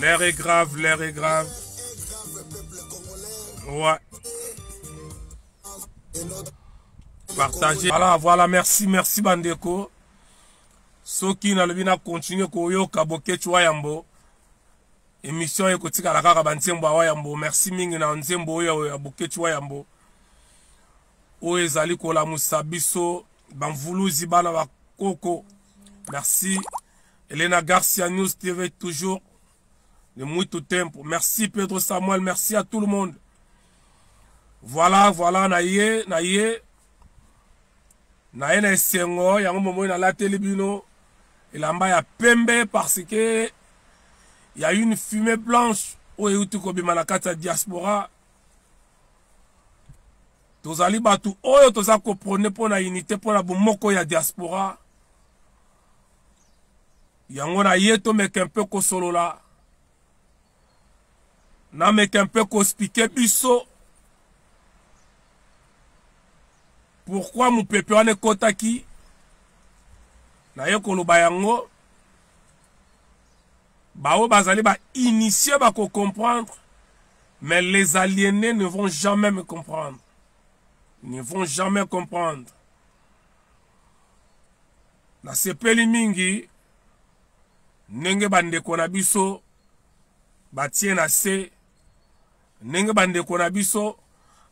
L'air est grave, l'air est grave. Ouais. Partagez. Voilà, voilà, merci, merci Bandeko. soki nalobi na continue koyoka bokeci wa yambo émission oyo ekotikala kaka banzembo awa yambo merci mingi na nzembo oyo ya bokeci wa yambo oyo ezali kolamusa biso bamvuluzi bana ba koko merci elena garcia news tv toujours de muito tempo merci pedro samuel merci à tout le monde voilà voilà na ye na ye na ye na esengo yango momoi nalateli bino elamba ya pembe parce que ya une fumée blanche oyo euti kobima na kati ya diaspora tozali bato oyo toza koprone mpo na unité mpo na bomoko ya diaspora yango na ye tomeke mpe kosolola nameke mpe kospike biso pourkui mopepe wana ekotaki naye koloba yango baoyo bazali ba initie bakocomprendre mais les aliénés ne vont jamais me comprendre ne vont jamais comprendre nasepeli mingi ndenge bandeko na biso batie na se ndenge bandeko na biso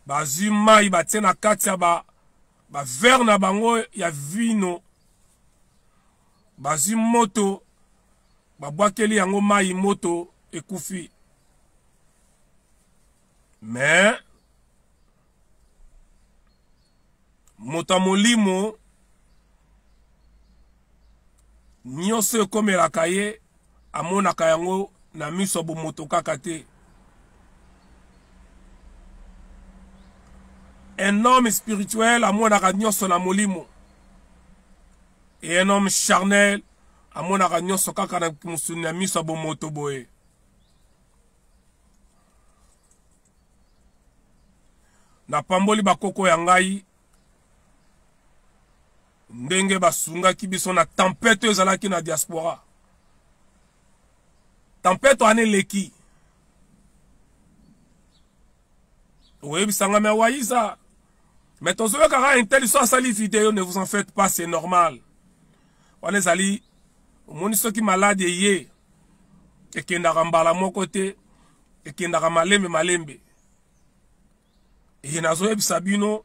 bazwi mai batie na kati ya bavere ba na bango ya vino bazwi moto babwakeli yango mai moto ekufi me moto ya molimo nyonso ekomelaka ye amonaka yango na miso ya bomoto kaka te un homme spirituel amonaka nyonso na molimo e un homme charnel amonaka nyonso kaka na mosuni na miso ya bomoto boye napamboli bakoko ya ngai ndenge basungaki biso na tempete oyo ezalaki na diaspora tempete wana eleki oyebisanga me awaiza me tozoyokaka intel so asali video ne vous en faites pas c'est normal wana ezali omoni soki maladi eye ekendaka mbala moko te ekendaka malembe malembe et nazoyebisa bino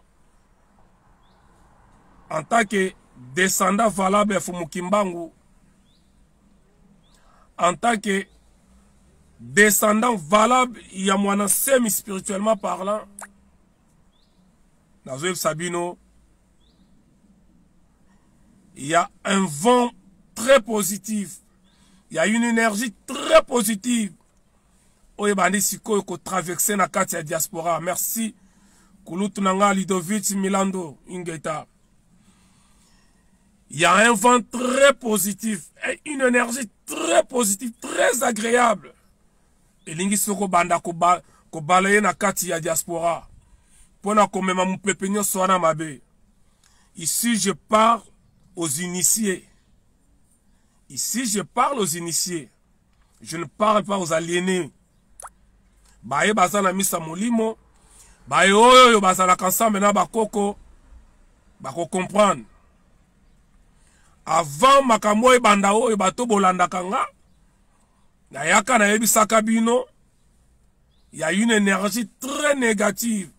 en tant que descendant valable ya fumu kimbangu en tant que descendant valable ya mwana semi spirituellement parlant nazoyebisa bino il y a un vent très positif il y a une énergie très positive oyo ebandi sikoyo kotraverse na kati ya diaspora merci kulutu na ngai lidovich milando ingeta Il y a un vent très positif, une énergie très positive, très agréable. elingi soki obanda kobala ye na kati ya diaspora mpo na komema mopepe nyonso wana mabe ici je pars aux initiés Ici, je parle aux initiés. Je ne parle pas aux aliénés. Baye baza na misa molimo, baye oyo yo bazalaka ensemble na bakoko, bako comprendre. Avant makambo ebanda oyo bato bolandaka nga, nayaka nayebisaka bino, il y a une énergie très négative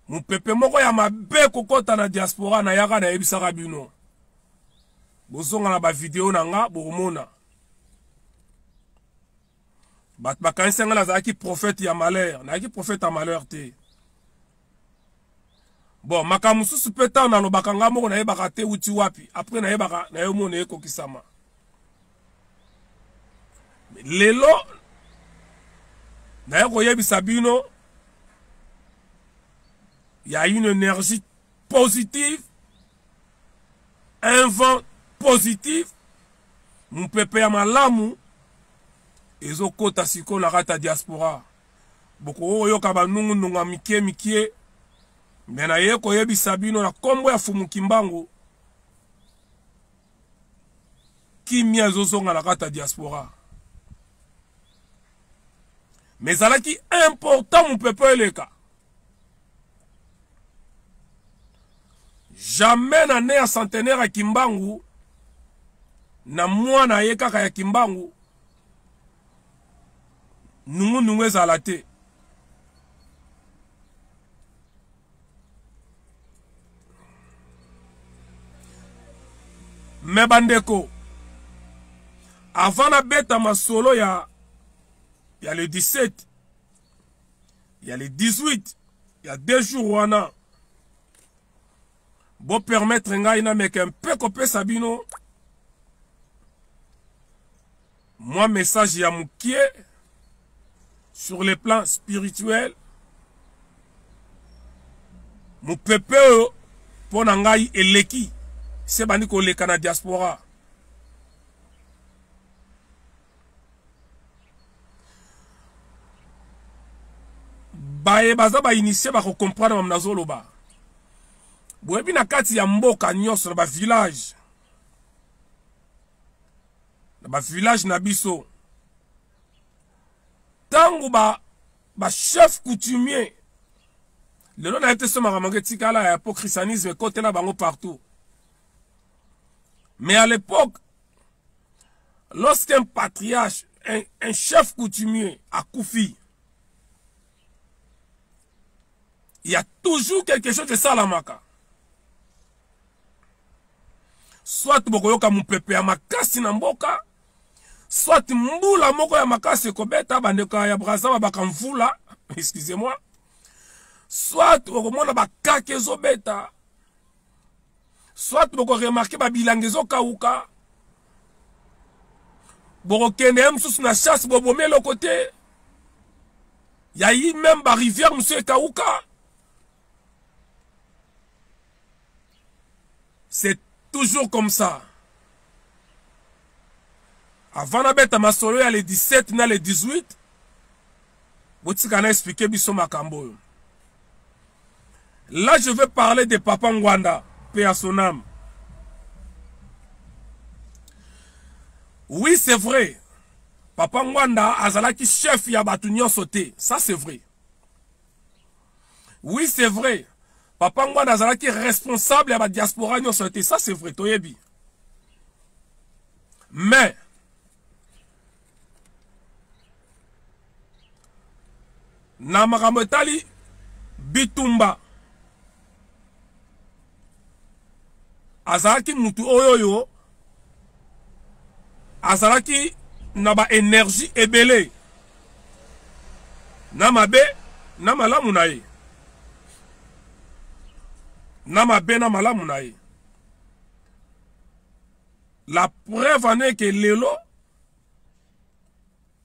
mopepe moko ya mabe kokɔta na diaspora nayaka nayebisaka bino bozonga na bavideo na nga bokomona bato bakanisi ngai nazalaki profete ya malheur nayaki profete ya malheur te bon makambo mosusu mpe ntango nalobaka ngai moko nayebaka te uti wapi apres nayebaka nayomona ekokisama lelo naye koyebisa bino ya une énergie positive un vent positif mopepe ya malamu ezokota sikoyo na kati ya diaspora bokoki koyoka banungunungu ya mikie mikie me naye koyebisa bino na nkombo ya fumu kimbangu kimia ezozonga na kati ya diaspora me ezalaki important mopepe eleka jamais na ne ya centenaire ya kimbangu na mwana ye kaka ya kimbangu nungunungu ezala te me bandeko avant nabeta masolo ya ya le 17 ya le 18 ya deux jours wana bopermettre ngai nameka mpe kopesa bino Moi message ya mukie sur le plan spirituel mopepe oyo mpo na ngai eleki se bandi koleka na diaspora baye baza bainitie bakokomprendre mamo nazoloba boyebi na kati ya mboka nyonso na bavillage na ba village na biso tango ba ba chef coutumier lelo na ye te so makambo yango etikala ya po christianisme ekotela bango partout mais à l'époque lorsqu'un patriarche un, un chef coutumier akufi il y a toujours quelque chose esalamaka soit bokoyoka mopepe ya makasi na mboka soit mbula moko ya makasi ekobeta bandeko ya braza babaka mvula excusez moi soit okomona bakake ezobeta soit bokoremarke babilanga ezokauka bokokende ye mosusu na chasse bobomi eloko te yayi meme barivière mosusu ekauka c'est toujours comme ça avant nabeta masolo ya le 17 na le 18 botika na explike biso makambo oyo là je vais parler de papa ngwanda pe à son âme oui c'est vrai papa ngwanda azalaki chef ya bato nyonso te ça c'est vrai oui c'est vrai papa ngwana azalaki responsable ya badiaspora nyonso te ça c'est vrai toyebi mais na makambo etali bitumba azalaki mutu oyo yo azalaki na ba énergie ebele na mabe na malamu na ye na mabe na malamu na ye la preuve en est que lelo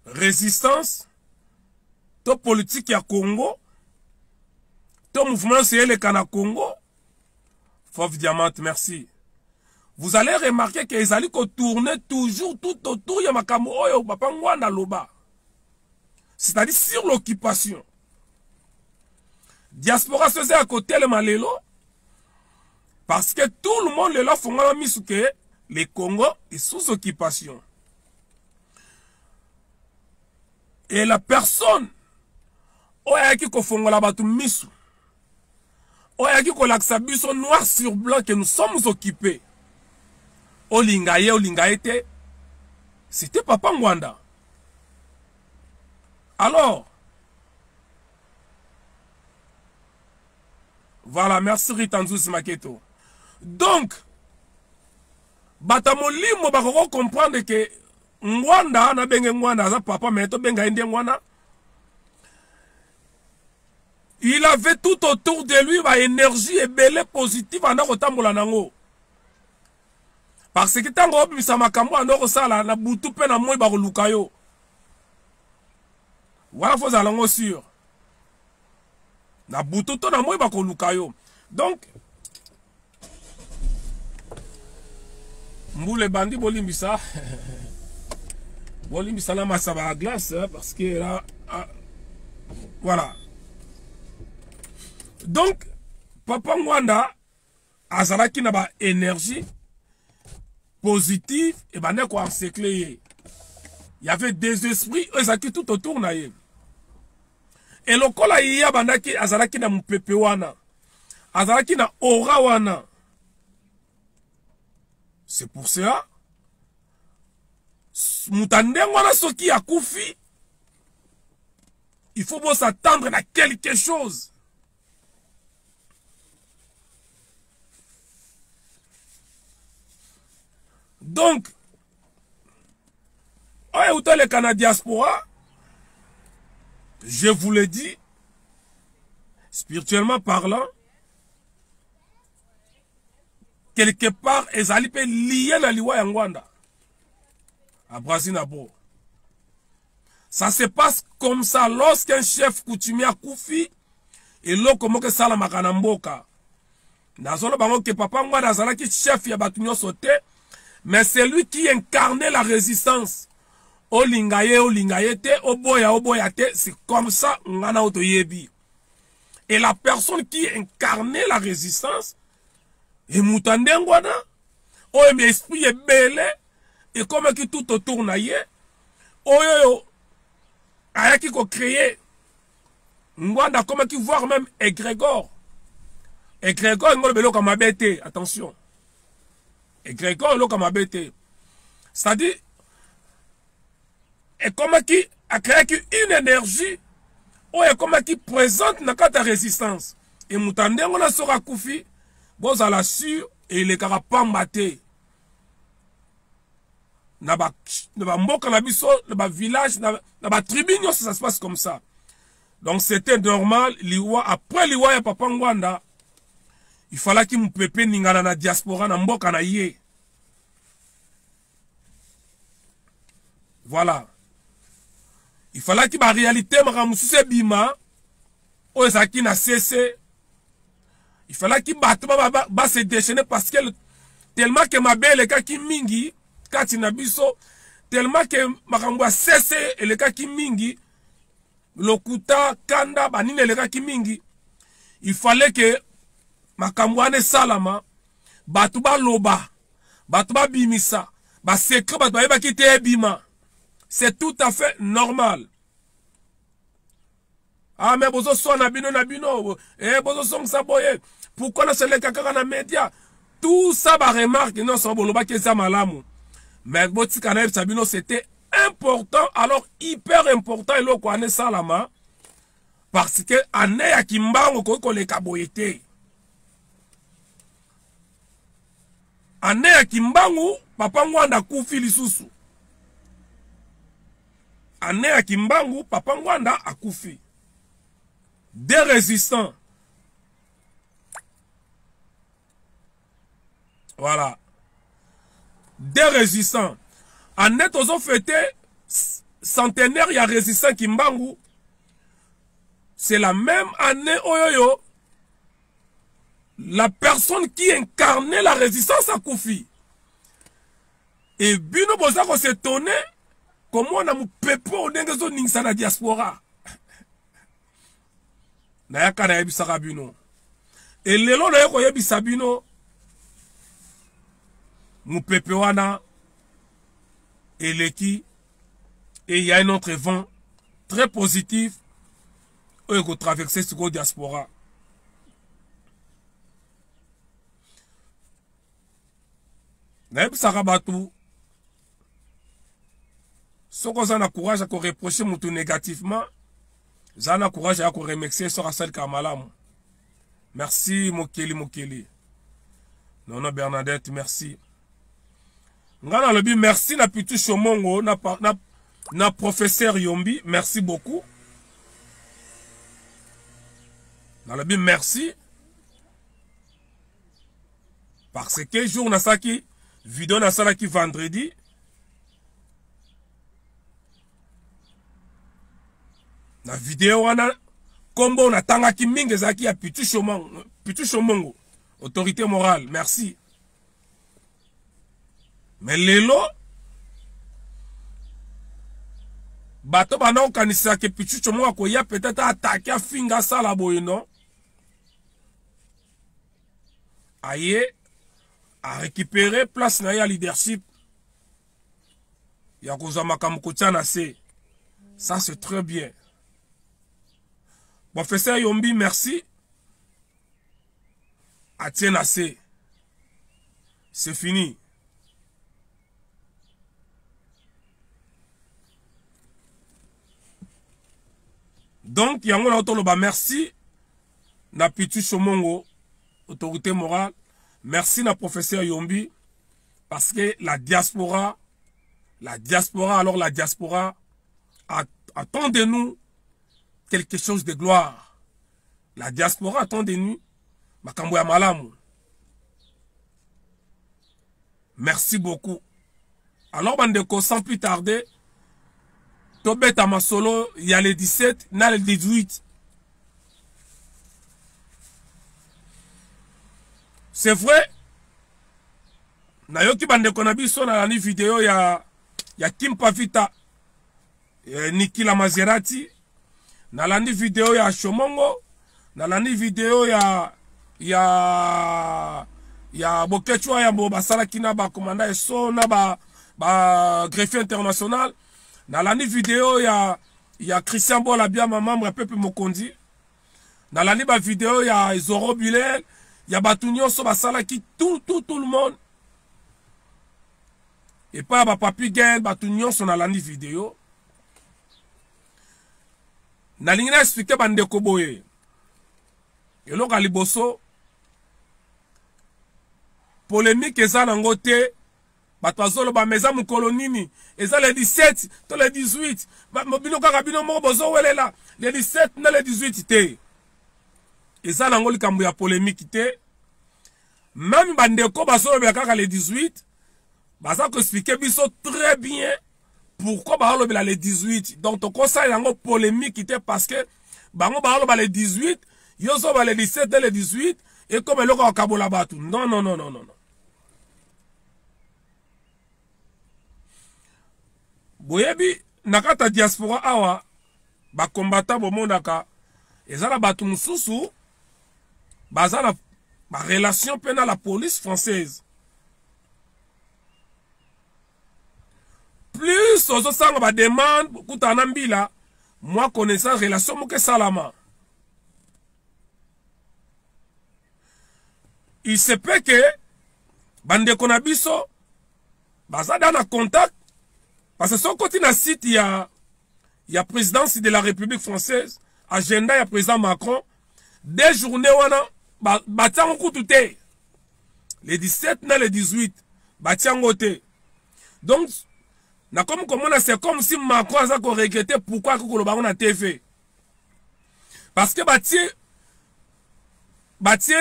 resistance to politiki ya congo to mouvement nyonso eleka na congo fauve diamante merci vous allez remarquer que ezali kotourne toujours tout autour ya makambo oyo papa ngwanda aloba c'est-à-dire sur l'occupation diaspora so eza ya kotelema lelo parce que tout le monde lelo afongama misu ke le congo est sous occupation et la personne oyo ayaki kofongola bato miso oyo ayaki kolakisa biso noir sur blanc que nous sommes occupés olinga ye olinga ye te c'était papa ngwanda alors voilà merci rita nzuzi maketo donc bato ya molimo bakoko comprendre ke ngwanda nabenge ngwanda aza papa me tobenga ye nde ngwana il avait tout autour de lui baénergie ebele positive anda kotambola nango parce que ntango obimisa makambo anda okosala na butu mpe na moi bakoluka yo wana fo ozala ngo sur na butu to na moi bakoluka yo donc mbula ebandi bolimbisa bolimbisa na masaba ya glace parce que là ah, voilà donc papa ngwanda azalaki na ba énergie positive ebandaki koencercle ye y avait des esprits oyo ezalaki tout autour na ye e lokola ye abandaki azalaki na mopepe wana azalaki na aura wana c'est pour cela moto ya ndenge wana soki akufi il faut bosatendre na quelque chose donc oyo eutaleka na diaspora je vous le dis spirituellement parlant quelque part ezali mpe liye na liwa ya ngwanda abrasi na bo Ça se passe comme ça lorsqu'un chef coutumier akufi eloko moko esalamaka na mboka nazoloba yango ke papa ngwada azalaki chef ya bato nyonso te mais celui qui incarne la résistance olinga ye olinga ye te oboya oboya te c'est comme ça nga na yo toyebi et la personne qui incarne la résistance emutu ya ndenge wana oyo me esprit ebele ekomaki tout autour na ye oyo oyo ayaki kocreye ngwanda akomaki voir même egregor egregor yango oloba eloko mabe te attention egregor eloko mabe te c'est-à-dire ekomaki akreaki une énergie oyo ekomaki présente na kati ya résistance e moto ya ndenge na soki akufi bozala sur elekaka pamba te na ba na ba mboka na biso na ba village na, na ba tribu nyonso ça se passe comme ça donc c'était normal liwa après liwa ya papa ngwanda il falaki mupepe ningana na diaspora na mboka na ye voilà il falaki baréalité makambo mosusu ebima oyo ezalaki na sese il falaki bato base déchaîne parce que tellement ke mabe elekaki mingi kati na biso tellement ke makambo ya sese elekaki mingi lokuta kanda banini elekaki mingi il fallait ke makambo wana esalama bato baloba bato babimisa basekre bato bayebaki te ebima c'est tout à fait normal ah mais bozo swana bino na bino eh bozo songisa boye pourquoi na seleka kaka na media tout ça ba remarque nyonso bolobaki eza malamu mais botika na yebisa bino c'était important alors hyper important eloko wana esalama parce que ane ya kimbango okoki koleka boye te ane ya kimbangu papa ngwanda akufi lisusu année ya kimbangu papa ngwanda akufi des résistants voilà des résistants année tozo fete centenaire ya résistant kimbangu c'est la même année oyoyo la personne qui incarnait la résistance akufi e bino boza ko se tone komona mopepe oyo ndenge ezoningisa na diaspora nayaka nayebisaka bino elelo naye koyebisa bino mopepe wana eleki et il y a un autre vent très positif oyo ekotraverse sikoyo diaspora nayebisaka bato soki oza na courage ya koreproche motu négativement za na courage ya koremercie soki asalikaka malamu merci mokeli mokeli nono bernadette merci ngai nalobi merci na pitu shomongo na, na, na professeur yombi merci beaucoup nalobi merci parce que jour nasalaki video nasalaki vendredi na video wana nkombo natangaki mingi ezalaki ya pitu shomongo autorité morale merci me lelo bato banda kokanisa ke pichucho moko akoya peut-être atake afinga asala boye non aye arécupere place na ye ya leadership ya kozwa makambo kotya na se ça c'est très bien professeur yombi merci atie na se c'est fini donc yango na yo toloba merci na pitu somongo autorité morale merci na professeur yombi parce que la diaspora la diaspora alors la diaspora attend de nous quelque chose de gloire la diaspora attend de nous makambo ya malamu merci beaucoup alors bandeko sans plus tarder tobeta masolo ya le 17 na le 18 c'est vrai nayoki bandeko na biso nalandi video ya ya kimpa vita eh, nikila maserati nalandi video ya shomongo nalandi video ya ya ya bokechwa ya bo basalaki na bakomanda eso na ba, ba greffier international nalandi video ya ya christian bola biama membre ya pepe mokonzi nalandi bavideo ya zoro bilel ya bato nyonso basalaki tout tout tout le monde epai ya bapapi gel bato nyonso nalandi video nalingi na explike bandeko boye eloko ya liboso polemike eza nango te bato bazoloba ma eza mokolo nini eza le 17 to le 18 bino kaka bino moko bozowelela le 17 na le 18 te eza nango likambo ya polemiki te meme bandeko bazolobela kaka le 18 baza koexplike biso très bien pourquoi balobela le 18 donc tokosala yango polemique te parce que bango baloba le 18 yo zoba le 17 na le 18 ekoma eloko akabola bato non non non non non boyebi na kati ya diaspora awa bakombata bomonaka eza na bato mosusu baza na barelation mpe na la police française plus ozosala bademande kutana na mbila mwa connaissance relation moke esalama il se peut ke bandeko na biso baza da na contact parce que soki koti na site ya ya présidence de la république française agenda ya président macron de journée wana batia yango kutu te le 17 na le 18 batia yango te donc nakomi komona c'est comme si macron aza koregrete pourkui akoki koloba yango na tv parce que batie batie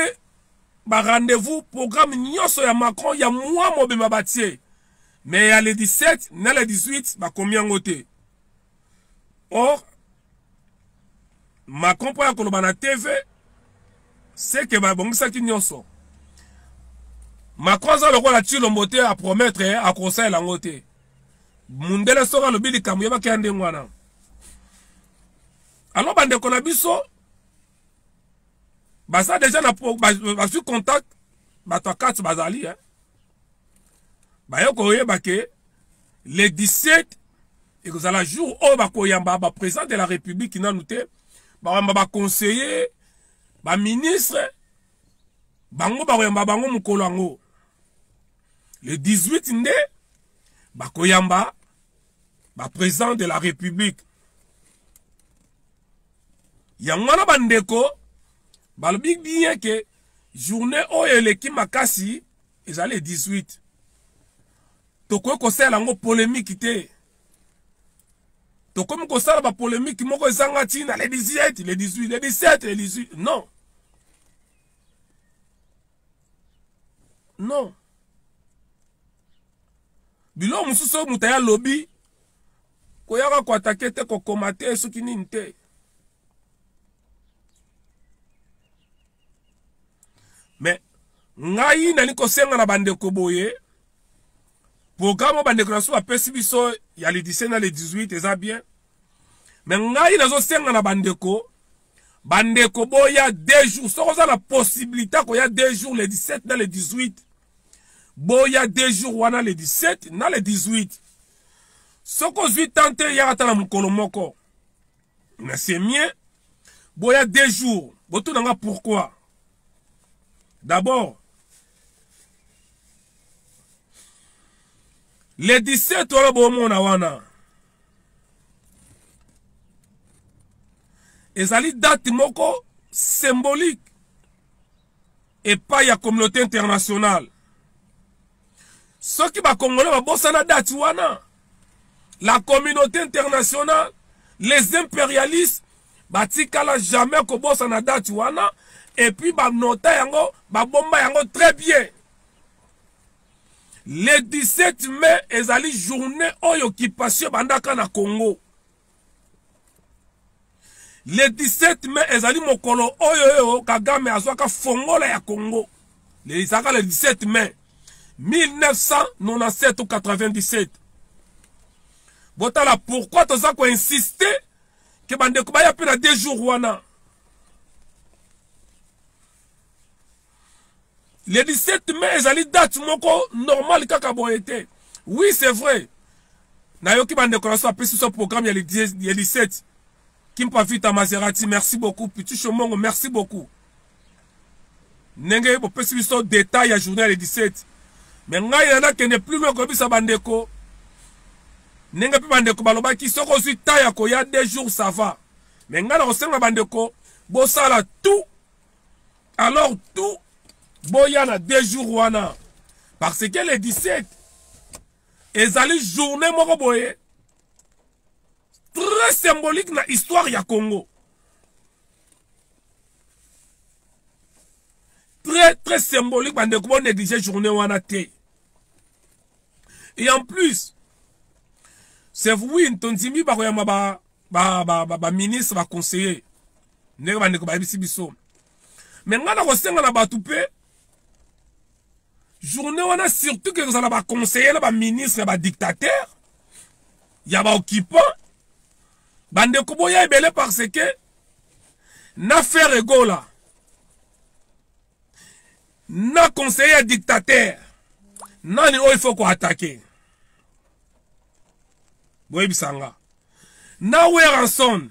barendez-vous programme nyonso ya macron ya mwa mobimba batie mais ya le 17 na le 18 bakomi yango te or macron mpo ya koloba na tv seke babongisaki nyonso macron aza lokola cilombo te apromettre eh, akosalela yango te mundele soki alobi likambo yebaki ya ndenge wana alors bandeko na biso baza deja na bazwi contact bato ya kati bazali eh. baye koyeba ke le 17 ekozala jour oyo bakoyamba baprésident de la république nanu te bakoyamba baconseiller baministre bango bakoyamba bango mokolo yango le 18 nde bakoyamba baprésident de la république yango wana bandeko balobi bien ke journée oyo eleki makasi eza le 18 tokoki kosalela yango polemiki te tokomi kosala bapolemiki moko ezanga ntina le 18 le 18 le 17 le 18 non non biloko mosusu oyo moto aya lobi koyaka koatake te kokoma te soki nini te me ngai nali kosenga na bandeko boye programe oyo bandeko na biso bapesi biso ya le 17 na le 18 eza bien me ngai nazosenga na bandeko bandeko boya deux jours soki oza na possibilité akoya deux jours le 17 na le 18 boya deux jours wana le 17 na le 18 soki ozwi tan te yaka ata na mokolo moko na semie boya deux jours botuna nga pourquoi d'abord le 17 wana bomona wana ezali date moko symbolique epai ya communauté internationale soki bakongolais babosana dati wana la communauté internationale les impérialistes batikala jamais kobosana dati wana epuis banota yango babomba yango très bien le 17 mai ezali journée oyo occupation ebandaka na congo le 17 mai ezali mokolo oyo oyo kagame azwaka fongola ya congo ezalaka le 17 mai 1997 ou 97 botala pourquoi toza koinsiste ke bandeko baya mpe na deux jours wana le 17 mai ezali date moko normal kaka boye te oui c'est vrai nayoki bandeko na biso bapesi biso programme ya le 17 kimpa vita maserati merci beaucoup pitusho mongo merci beaucoup ndenge bopesi biso detail ya journée ya le 17 me ngai na nakende plus loin koyebisa bandeko ndenge mpe bandeko balobaki soki ozwi ta ya koya deux jours ça va me ngai na kosenga bandeko bosala tout alors tout boya na deux jours wana parce que le 17 ezali journée moko boye très symbolique na histoire ya congo très très symbolique bandeko bo néglige journée wana te et en plus c'est oui tondimi bakoyamba ba baministre ba, ba, ba baconseiller ndenge bandeko bayebisi biso me ngai nakosenga na bato mpe journée wana surtout ke kozala baconseiller na baministre ya badictateur ya baoccupant bandeko boya ebele parce que na faire egola na conseiller ya dictateur nani oyo ifo koatake boyebisa nga na weranson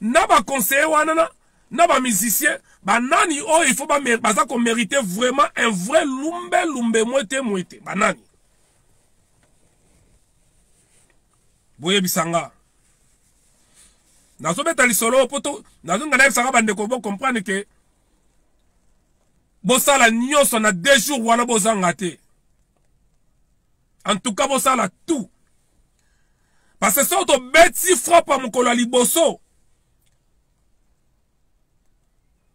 na ba conseiller wana na na ba musicien banani oyo il faut baza komerite vraiment un vrai lumbe lumbe mwete mwete banani boyebisa nga nazobeta lisolo mpo to nazonga nayebisaka bandeko bocomprendre ke bosala nyonso na deux jours wana bozanga te en tout cas bosala tout parce soki tobeti frappe ya mokolo ya liboso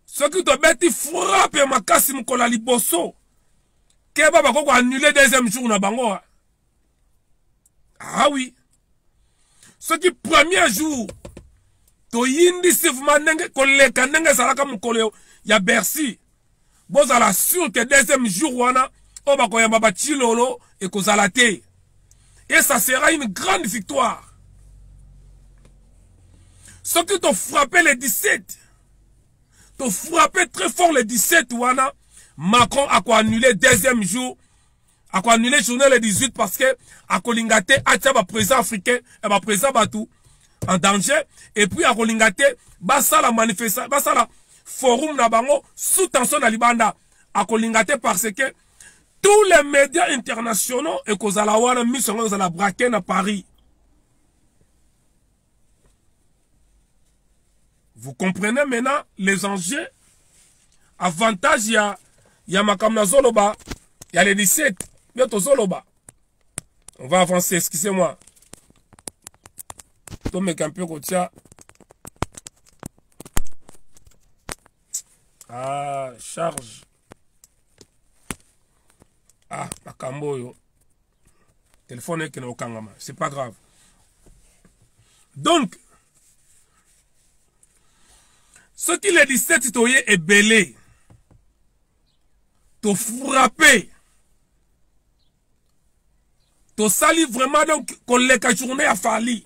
soki tobeti frappe ya makasi mokolo ya liboso keba bakoki koannule deuxième jour na bango ah oui soki premier jour toyindisi vraimen ndenge koleka ndenge ezalaka mokolo ya bercy bozala sur ke deuxième jour wana oyo bakoyamba bacilolo ekozala te et ça sera une grande victoire soki tofrappe le 17 tofrappe très fort le 17 wana macron akoannule deuxième jour ako annule journée le 18 parce que akolinga te atia ba président africain eh, ba président bato en danger et puis akolinga te basala manifesta basala forum na bango sous tension na libanda akolinga te parce que tous les médias internationaux ekozala wana miso yango ezala braqué na paris Vous comprenez maintenant les enjeux Avantage ya, ya makambo na zoloba ya le 17 nde tozoloba. On va avancer, excusez-moi. Tomeka mpe kotia ah, charge ah makambo oyo telefone ekende okangama c'est pas grave donc soki le 17 toye ebele tofrappe tosali vraiment donc koleka journée ya fali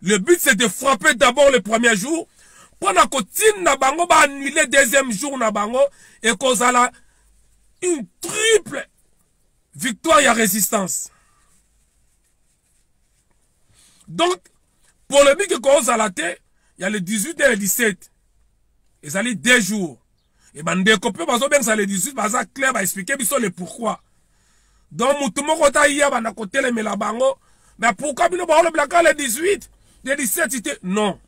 Le but c'est de frapper d'abord le premier jour mpo na kotinda bango baannule deuxième jour na bango ekozala une triple victoire ya résistance donc polémique ekozala te ya le 18 et le 17 ezali deux jours e bandeko mpe bazobengisa le 18 baza clair baexplike biso le pourquoi donc motu moko ta ye abanda kotelemela bango mais pourquoi bino baolobelaka le 18 le 17 te non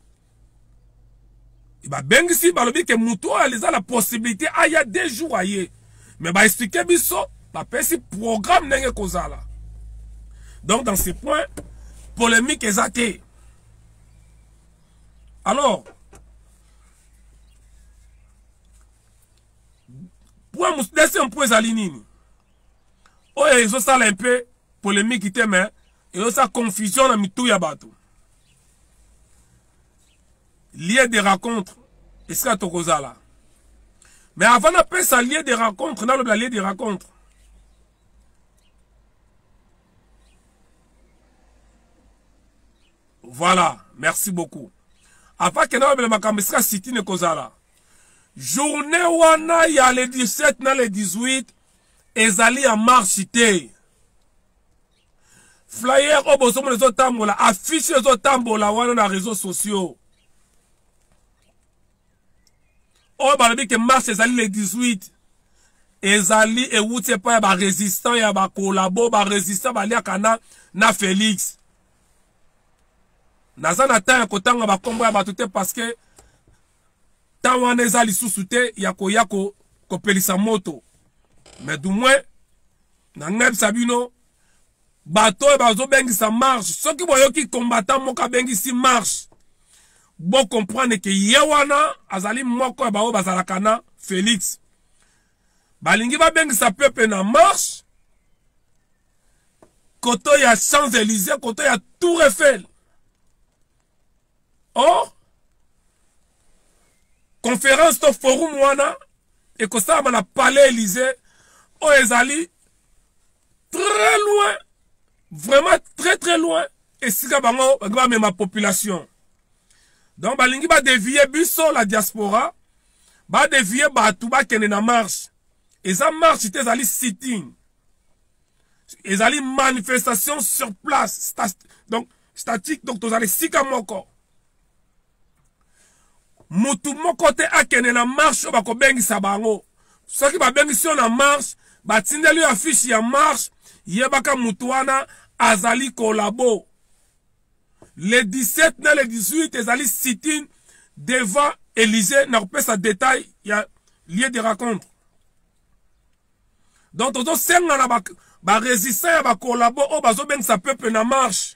babengisi balobi ke motu oyo aliza na possibilité aya deux jours aye mais baexplike biso bapesi programme ndenge ekozala donc dans ce point polémique eza te alors point mosusu deuxième point ezali nini oyo ezosala un peu polémique te mais ezosala confusion na mitu ya bato lieu de rencontre esika tokozala mais avant napesa lieu de rencontre nalobela lieu de rencontre Voilà, merci beaucoup. Avant que nous makambo esika city ne kozala. Journée wana ya le 17 na le 18 ezali ya marche te. Flyer oyo bozomona ezotambola, affiche ezotambola wana na réseaux sociaux. Oyo balobi ke marche ezali le 18 ezali ewuti epai ya barésistant ya bakolabo barésistant baliaka na na félix naza na temps ya kotanga bakombo ya bato te parce que temps wana eza lisusu te ya koya ko, kopelisa moto mais du moins nangebisa bino bato oyo bazobengisa marche soki boyoki combattant moko abengisi marche bocomprendre ke ye wana azali moko ya baoyo bazalaka na félix balingi babengisa pepe na marche koto ya champs élysées koto ya tour eiffel or conférence to forum wana ekosalama na palais élysée oyo ezali très loin vraiment très très loin esika bango balingi bamema population donc balingi badevie biso la diaspora badevie bato bakende na marche eza marche te ezali sitting ezali manifestation sur place Stat donc statique donc tozala esika moko mutu moko te akende na marche oyo bakobengisa bango soki babengisi yo na marche batindeli yo afishe ya marche yebaka mutu wana azali kolabo le 17 na le 18 ezali sitine devant élysée na kopesa détail ya lieu de rencontre donc tozosenga na barésistant ba ya bakolabo oyo bazobengisa peuple na marche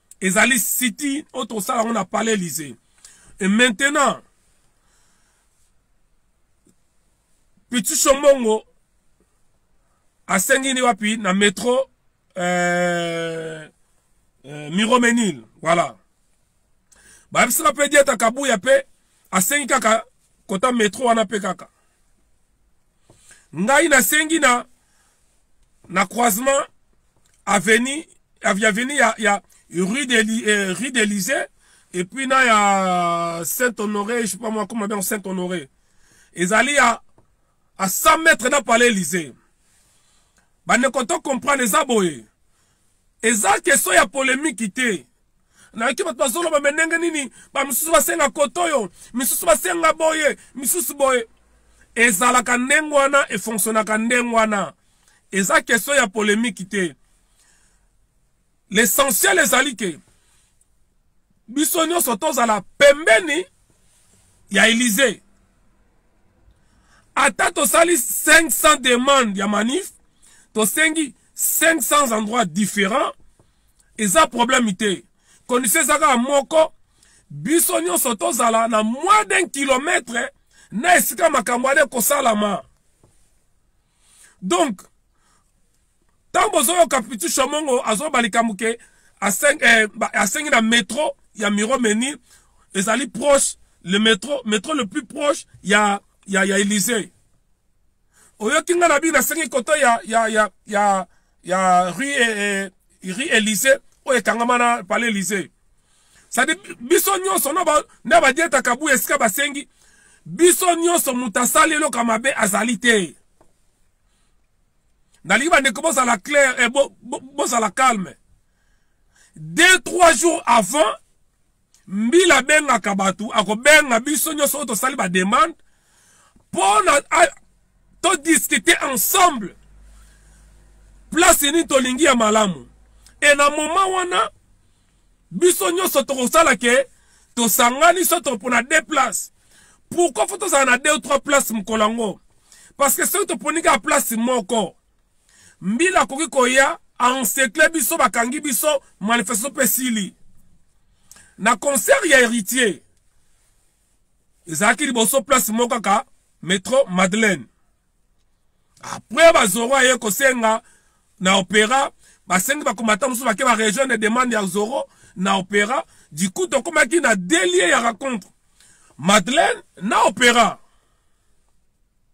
ezali siti oyo tokosala yango na palais elysee et maintenant pitu sombongo asengi ni wapi na metro euh, euh, miromenil voilà bayebisaka mpe dieta kabuya mpe asengi kaka kota metro wana mpe kaka ngai nasengi na na croisement avenue avenue ya, ya rue de, eh, rue de Lisée et puis na ya Saint Honoré je sais pas moi comment bien Saint Honoré ezali ya à 100 mètres na palais Lisée bande ko to comprendre eza boye eza question ya polemiki te nayoki bato bazoloba me ndenge nini bamisusu basenga koto oyo misusu basenga boye misusu boye ezalaka ndenge wana efonctionnaka ndenge wana eza question ya polemiki te l'essentiel ezali ke biso nyonso tozala pembeni ya Elysee ata tosali 500 demande ya manif tosengi 500 endroits différents eza problème te condition eza kaka moko biso nyonso tozala na moins d'un kilomètre na esika makambo ale kosalama donc ntango bozoyoka pitu shomongo azoloba likambo ke asengi eh, asengi na metro ya miro menir ezali proche le metro metro le plus proche ya ya ya elysee oyoki ngai na bino nasengi koto ya ya ya ya ya rue eh, eh, rue Elysée oyo ekangama na palais Elysée sadi biso nyonso nde badieta kabuya esika basengi biso nyonso moto asali eloko ya mabe azali te nalingi bandeko bozala claire e eh, bozala bo, bo calme deux trois jours avant mbila abengaka bato akobenga biso nyonso oyo tosali bademande mpo na todiskute ensemble place nini tolingi ya malamu e na moma wana biso nyonso tokosala ke tosangani so topona de place pourkoi fo tozala na de ou trois place mokolo yango parce que soki toponi kaka place moko mbila akoki koya ensekle biso bakangi biso manifestation mpe esili na concert ya héritier ezalaki liboso place moko kaka metro madeleine apres bazoro aye kosenga na opéra basengi bakomata mosusu bake baregion de demande ya zoro na opéra du coup tokomaki na delie ya racontre madeleine na opéra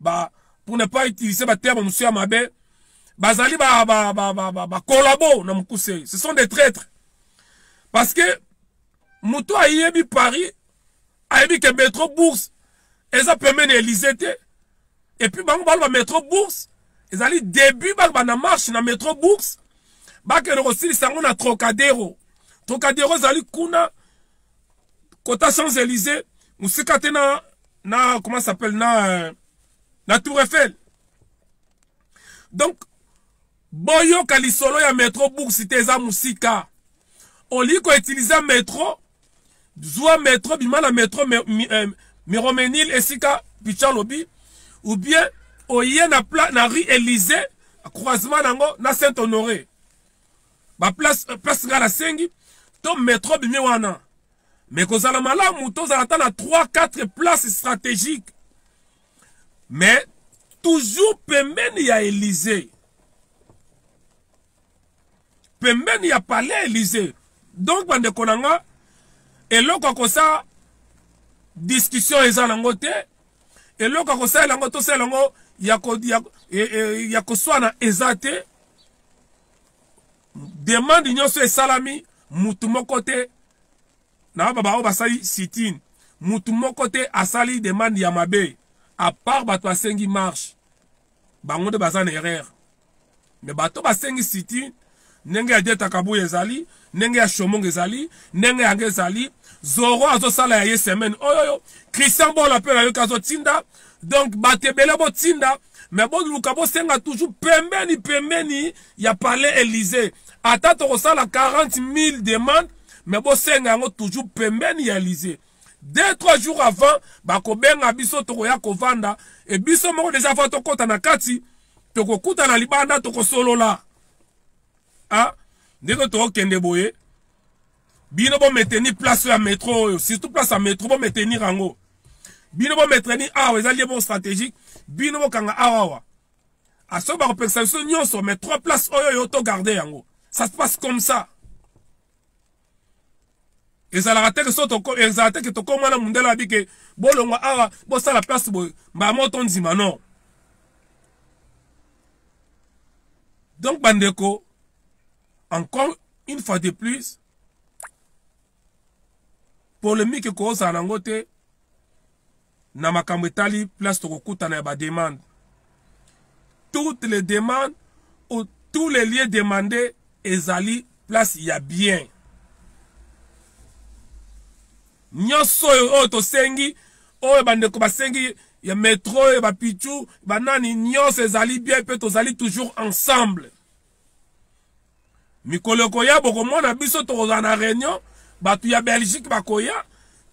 ba pour ne pas utiliser ba terme monsieur ya mabe bazali ba ba ba ba, ba, ba collabo na mukuse ce sont des traîtres parce que moto ayebi paris ayebi ke metro bourse eza pembeni elise te epuis bango baloba metro bourse ezali début baloba na marche na metro bourse bakende kosilisa yango na trocadero trocadero ezali kuna kota champs elise mosika te na na comment ça s'appelle na euh, na tour eiffel donc boyoka lisolo ya metro bourse te eza mosika olingi koutilize metro zwa metro bima na metro me, mi, eh, miromenil esika picha alobi ou bien oye na, pla, na rue elise croisement nango na saint honoré baplace euh, place ngai nasengi to metro bimi wana mais kozala malamu tozala ata na 3 4 place stratégique mais toujours pembeni ya elysée pembeni ya palais elysée donc bandeko na nga eloko ya kosa discussion eza nango te eloko ya kosalela yango tosalela yango ya, ko, ya, ya, e, e, ya koswana eza te demande nyonso esalami mutu moko te na baba baoyo basali sitin mutu moko te asali demande ya mabe apart bato basengi marche bango nde baza na erreur me bato basengi sitin ndenge ya dieta kabuya ezali ndenge ya shomongo ezali ndenge yango ezali zoro azosala ya ye semaine oyoyo christian bola mpe nayoki azotinda donc bato ebele botinda mais boluka bosenga toujours pembeni pembeni ya palais elysée ata tokosala 40 000 demande mais bosenga yango toujours pembeni ya elysée deux trois jours avant bakobenga biso tokoya kovanda e biso moko deja fa tokɔta na kati tokokutana libanda tokosolola a ah, ndenge tokokende boye bino bo maintenir place ya metro oyo surtout place ya metro bo maintenir yango bino bo maintenir awa eza lie bo stratégique bino bokanga awawa asoki bakopekisa biso nyonso mais trois place oyo yo to garde yango ça se passe comme ça ezalaka te ke so ezala te ke tokoma na mundele abi ke bolongwa awa bosala place boye mbala moko tondima non donc bandeko encore une fois de plus polemique ekozala nango te na makambo etali place tokokutana ya bademande toutes les demandes ou tous les lieux demandés ezali place ya bien nyonso oyo oyo tosengi oyo bandeko basengi ya metro ya bapichu banani nyonso ezali bien mpe tozali toujours ensemble mikolo ekoya bokomona biso tokozala na réunion bato ya belgique bakoya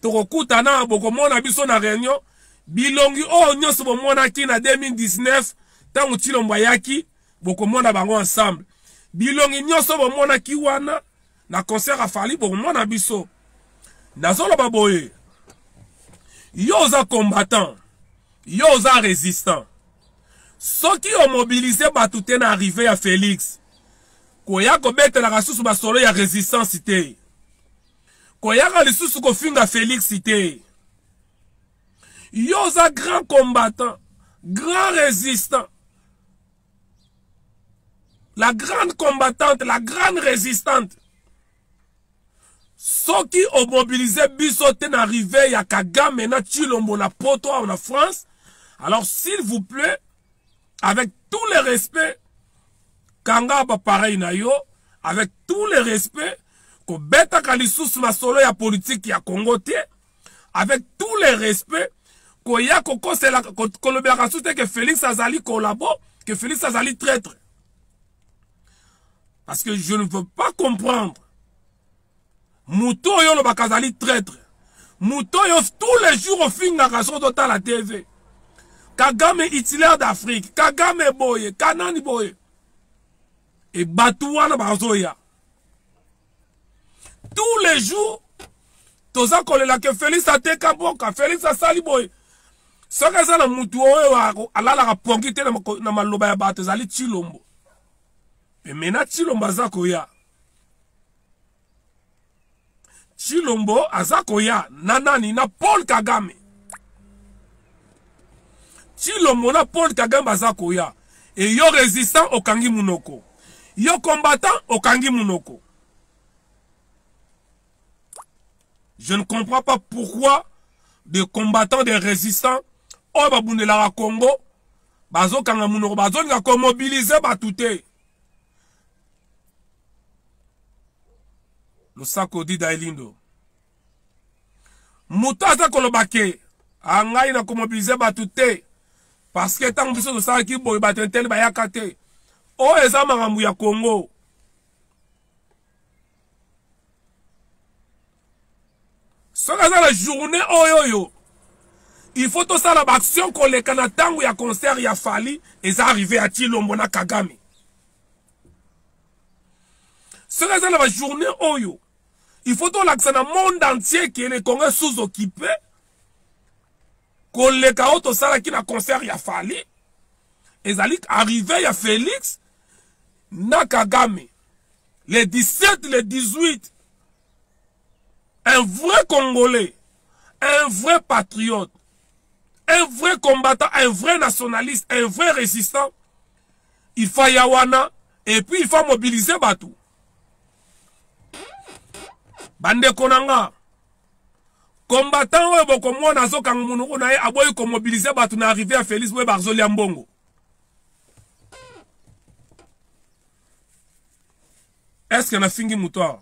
tokokutana bokomona biso na réunion bilongi oyo nyonso bomonaki na 2019 ntango tshilombo ayaki bokomona bango ensemble bilongi nyonso bomonaki wana na concert ya fali bokomona biso nazoloba boye yo oza combattant yo oza résistant soki omobilize bato te na arrive ya félix koya kobetelaka lisusu basolo ya résistance te koyaka lisusu kofinga félix te yo oza grand combattant grand résistant la grande combattante la grande résistante soki omobilize biso te na rive ya kagame na chilombo na poto awa na france alors s'il vous plaît avec tout le respect kanga bapareil na yo avec tout le respect kobetaka lisusu masolo ya politike ya congo te avec tous les respects koya kokosela kolobelaka susu te ke félix azali collabo ke félix azali traître parce que je ne veux pas comprendre moto oyo olobaka azali traître moto oyo tous les jours ofingaka soki totala tv kagame hitler d'afrique kagame boye kanani boye e bato wana bazoya tous les jours toza kolela ke felix ateka mboka felix asali boye soki aza na motu oyo alalaka pongi te na maloba ya bato ezali tshilombo pemena tshilombo aza koya tshilombo aza koya na nani na paul kagame Chilombo na Paul Kagame baza koya. Et yo résistant okangi munoko. Yo combattant okangi munoko. Je ne comprends pas pourquoi des combattants, des résistants, oyo babundelaka Congo, bazokanga munoko, bazolinga komobilize bato te. Losako Dida Elindo. moto aza koloba ke angai na komobilize bato te parce que ntango biso tosalaki boye bato interne bayaka te oyo eza makambo ya congo soki aza na journée oyo oyo il faut tosala baaction koleka na ntango ya concert ya fali eza arrive ya tilombo na kagame soki aza na bajournée oyo il faut tolakisa na monde entier ke le congo sous occupé koleka oyo tosalaki na concert ya fali ezali arrive ya félix na kagame le 17 le 18 un vrai congolais un vrai patriote un vrai combattant un vrai nationaliste un vrai résistant il faut ya wana et puis il faut mobiliser bato bandeko na nga combattant oyo bokomona azokanga monoko na ye aboyi komobilize bato na arrive ya félix boye bazolia mbongo eske nafingi moto awa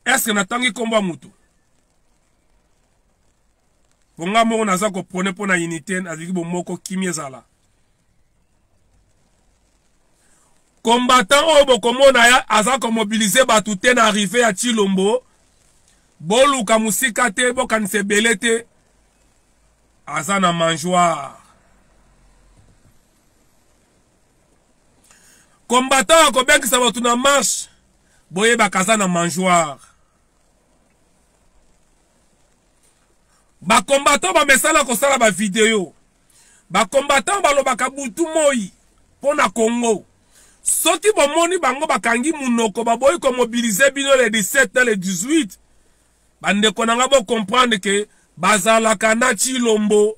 eske natangi nkombo ya moto mpo nga moko naza kopone mpo na unité nalingi bomoko kimi ezala combattant oyo bokomona ya aza komobilize bato te na arrive ya chilombo boluka mosika te bokanisa ebele te aza na mangeoire combattant akobengisa bato na marche boyebaka aza na mangeoire bacombattant bamesana kosala bavideo ba combattant balobaka butu moi mpo na congo soki bomoni bango bakangi munoko baboyi komobilize bino le 17 na le 18 bandeko na ngai bocomprendre ke bazalaka na chilombo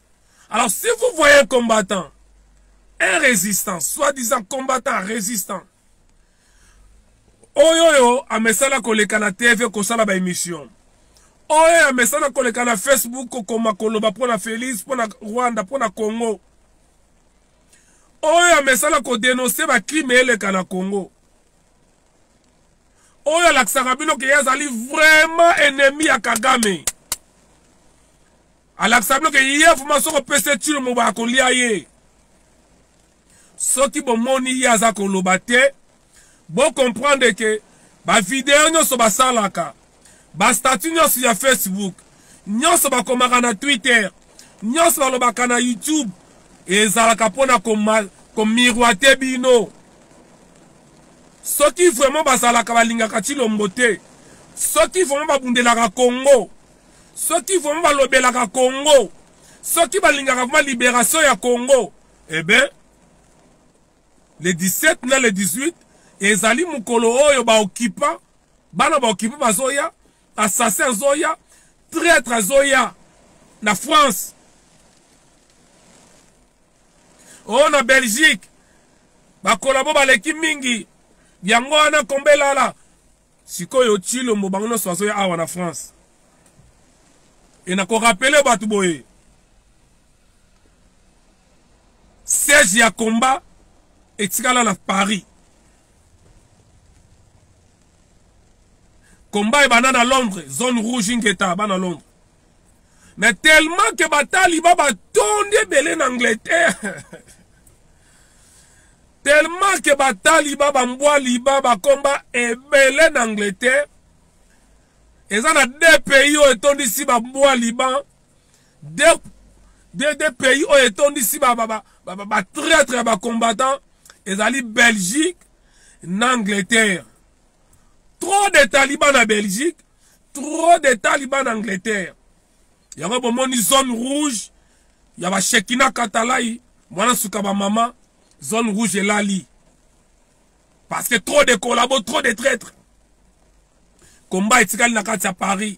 Alors si vous voyez un combattant, un résistant, soi-disant combattant, résistant, oyo oyo amesana koleka na tv kosala baémission oyo amesana koleka na facebook kokoma koloba mpo na félix mpo na rwanda mpo na congo oyo amesana kodenonse bacrime eleka na congo oyo alakisaka bino ke ye azali vraiment ennemi ya kagame alakisa bino ke ye vraimen soki opesi ye tilo moba akolia ye soki bomoni ye aza koloba te bocomprendre ke bavideo nyonso basalaka bastatut nyonso ya facebook nyonso bakomaka na twitter nyonso balobaka na youtube ezalaka mpo na komiroite bino soki vraiment bazalaka balingaka cilombo te soki vraiment babundelaka congo soki vraiment balobelaka congo soki balingaka vraiment liberation ya congo eh ben le 17 na le 18 ezali mokolo oyo baokipa bana baokipa bazoya assassin azoya traitre azoya na france oyo oh, na belgique bakolabo baleki mingi yango wana kombe elala sikoyo chilombo bango nyonso bazoya awa na france e nakorapele bato boye siège ya combat etikala na paris combat ebanda na londres zone rouge ingeta bana londres mais tellement que bataliba batondi ebele na angleterre tellement que bataliba bambwa liba bakomba ebele na angleterre eza na deux pays oyo etondisi bambwa liban deux, deux, deux pays oyo etondisi batraitre ba, ba, ba, ba, ba ya bacombattant ezali belgique na angleterre trop de taliban na belgique trop de taliban na angleterre yango bomoni zone rouge ya bashekina katalai mwana suka bamama zone rouge elali parce que trop de collabo trop de traître combat etikali na kati ya paris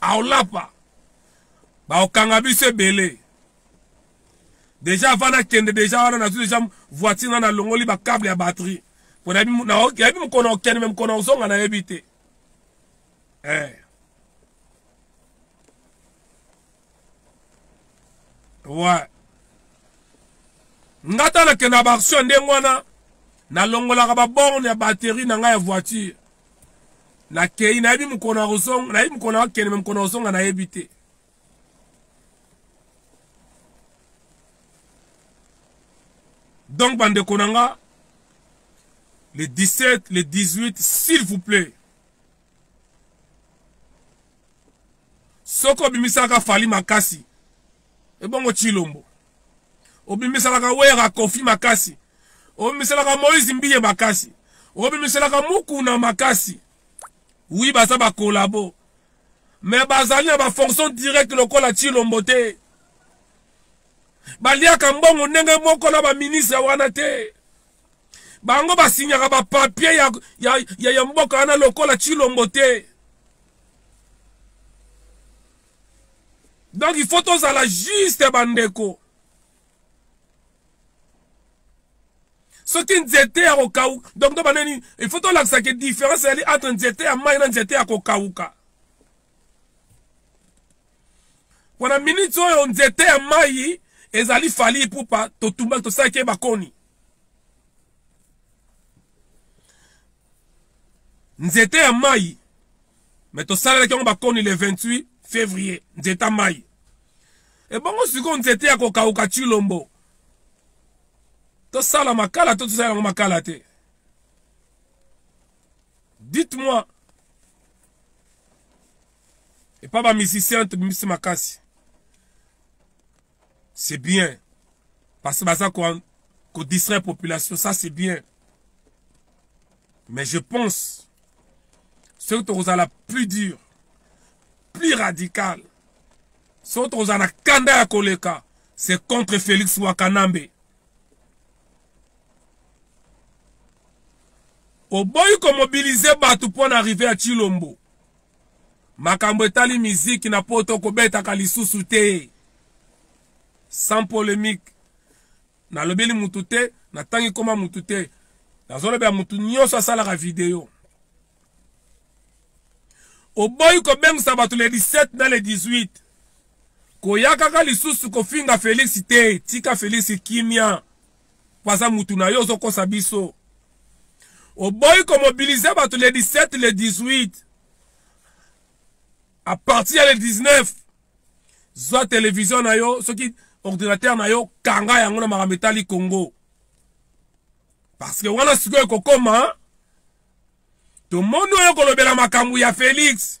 aolapa baokanga biso ebele deja avant nakende deja wana nazwi deja voiture na nalongoli bacable ya batterie mpo nayebi mokona okende me mokona ozonga nayebi te eh. ouais nga ta nakenda baaction ndenge wana nalongolaka baborne ya batterie na ngai ya voiture nakei nayebi mokolo na kozonga nayebi mokolo na kokende me mokolo na kozonga nayebi te donc bandeko na nga le 17 le 18 s'il vous plaît soki obimisaka fali makasi ebongo tshilombo obimiselaka wera kofi makasi obimiselaka moise mbiye makasi obimiselaka mukuna makasi wi baza bakolabo me bazali na bafonction directe lokola chilombo te baliaka mbongo ndenge moko na baministre wana te bango basinyaka bapapie ya, ya, ya, ya mboka wana lokola chilombo te donc il faut tozala juste bandeko soki nzete ya kokauka donc to banani il faut tolakisa ke différence ezali entre nzete ya mai na nzete ya kokauka wana miniti oyo nzete ya mai ezali fali ipupa totumbaki tosalaki ye bakoni nzete ya mai me tosalelaki yango bakoni le 28 février nzete ya mai ebongo sikoyo nzete ya kokauka chilombo tosala makala to tosala yango makala te dites-moi epa bamusicien tobimisi makasi c'est bien parce que baza ko, ko distraire population ça c'est bien mais je pense soki tokozala plus dur plus radical soki tokozala na kanda ya koleka c'est contre félix wakanambe oboyi komobilize bato mpo na arrive ya chilombo makambo etali miziki na poto kobetaka lisusu te sans polemique nalobeli mutu te natangi koma mutu te nazolobela mutu nyonso asalaka video oboyi kobengisa bato le 17 na le 18 koya kaka lisusu kofinga felix te tika felix kimia waza mutu na yo ozokosa biso oboyi komobilize bato le 17 le 18 à partir ya le 19 zwa televizio na yo soki ordinateur na yo kanga yango na makambo etali congo parce que wana sikoyo ekokoma tomoni oyo kolobela makambo ya felix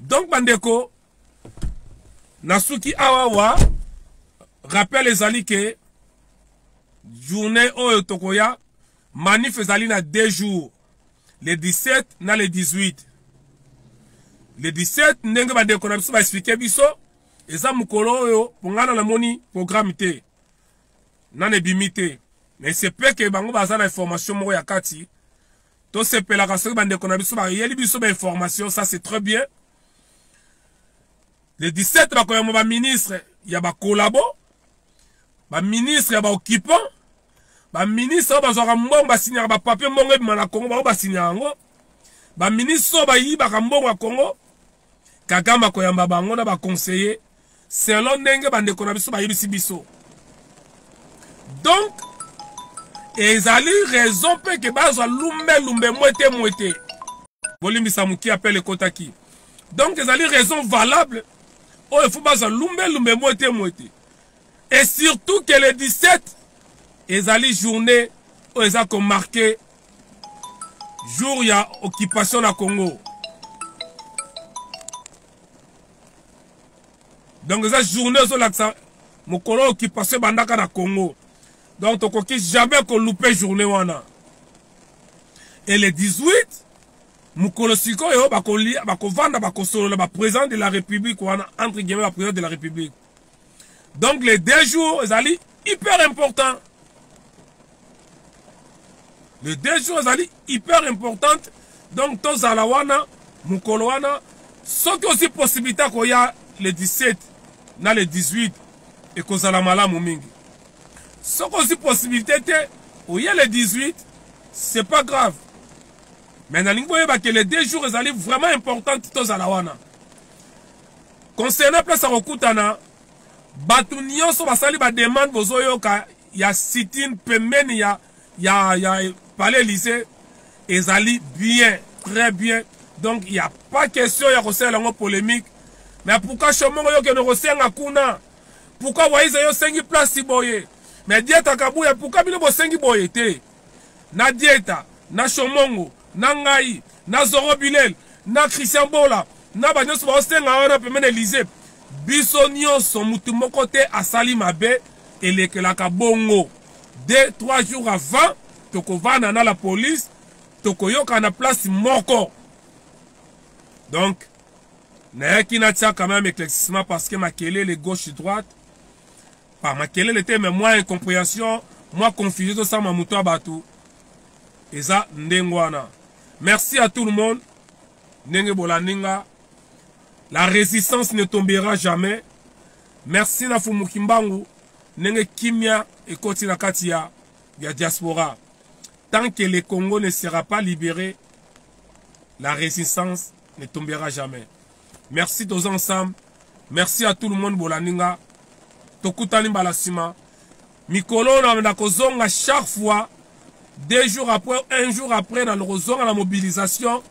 donc bandeko nasuki awa wa rappel ezali ke journée oyo tokoya manif ezali na deux jours le 17 na le 18 le 17 ndenge bandeko na biso baexplike biso eza mokolo oyo pongana namoni programme te nana ebimi te mais sepeke bango baza na information moko ya kati tosepelaka soki bandeko na biso bayeli biso bainformation ça c'est très bien le 17 bakoyamba baministre ya bakolabo baministre ya baoccupant baministre oyo bazwaka mbongo basinyaka bapapie mbongo ebima na congo bango basinyaka yango baministre oyo bayibaka mbongo ya congo kagame akoyamba bango na baconseiller selon ndenge bandeko na biso bayebisi biso donc ezali raison mpe ke bazwa lumbe lumbe mwete mwete bolimbisa moki apele ekotaki donc ezali raison valable oyo efo bazwa lumbe lumbe mwete mwete et surtout que le 17 ezali journée oyo eza komarke jour ya occupation na congo donc eza journée ezolakisa mokolo oyo occupation ebandaka na congo donc tokoki jamais koloupe journée wana et le 18 mokolo sikoyo bakovanda bakosolola baprésident de la république wana entre guillemets baprésident de la république donc les deux jours ezali hyper important les deux jours ezali hyper importante donc tozala wana mokolo wana soki osi possibilité ya koya le 17 na le 18 ekozala malamu mingi soki osi possibilité te oye le 18 c'est pas grave mais nalingi boyeba ke le deux jours ezali vraiment importante tozala wana concernant place ya kokutana bato nyonso basali bademande bozoyoka ya sitine pembeni ya, ya, ya palais lycée ezali bien très bien donc ya pas question ya kosalela yango polémique mais pourquoi shomongo yo kende kosenga kuna pourquoi waiza yo osengi place boye mais dieta kabuya pourquoi bino bosengi boye te na dieta na shomongo na ngai na zoro bilel na christian bola na banyonso baosenga wana pembe na elize biso nyonso motu moko te asali mabe elekelaka bongo de trois jours avant tokovanda na la police tokoyokana place moko donc nayaki natia quand même éclaircissement parce que makelele gauche droite pa makelele te mais mwa incomprehension mwa confusion tosama moto ya bato eza ndenge wana merci à tout le monde ndenge bolandi nga la résistance ne tombera jamais merci na fumu kimbangu ndenge kimia ekoti na kati ya, ya diaspora tant que le congo ne sera pas libéré la résistance ne tombera jamais merci toza ensemble merci à tout le monde bolandi nga tokutani mbala nsima mikolo oyo na kozonga chaque fois deux jours après un jour après na kozonga na mobilisation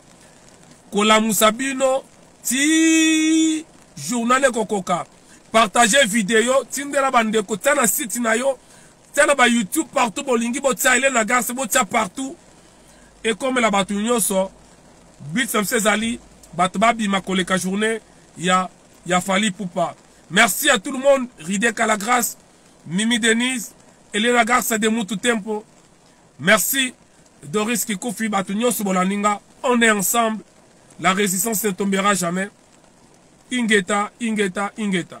kolamusa bino ti journal ekokoka partage video tindela bandeko tia na site na yo tia na ba youtube partout bolingi botia elelo ya garce botia partout ekomela bato nyonso but na biso ezali bato babima koleka journée ya ya fali pupa merci à tout le monde rideka la grâce mimi denise elena garce de mutu tempo merci doris kikufi bato nyonso bolandi nga on est ensemble la résistance ne tombera jamais ingeta ingeta ingeta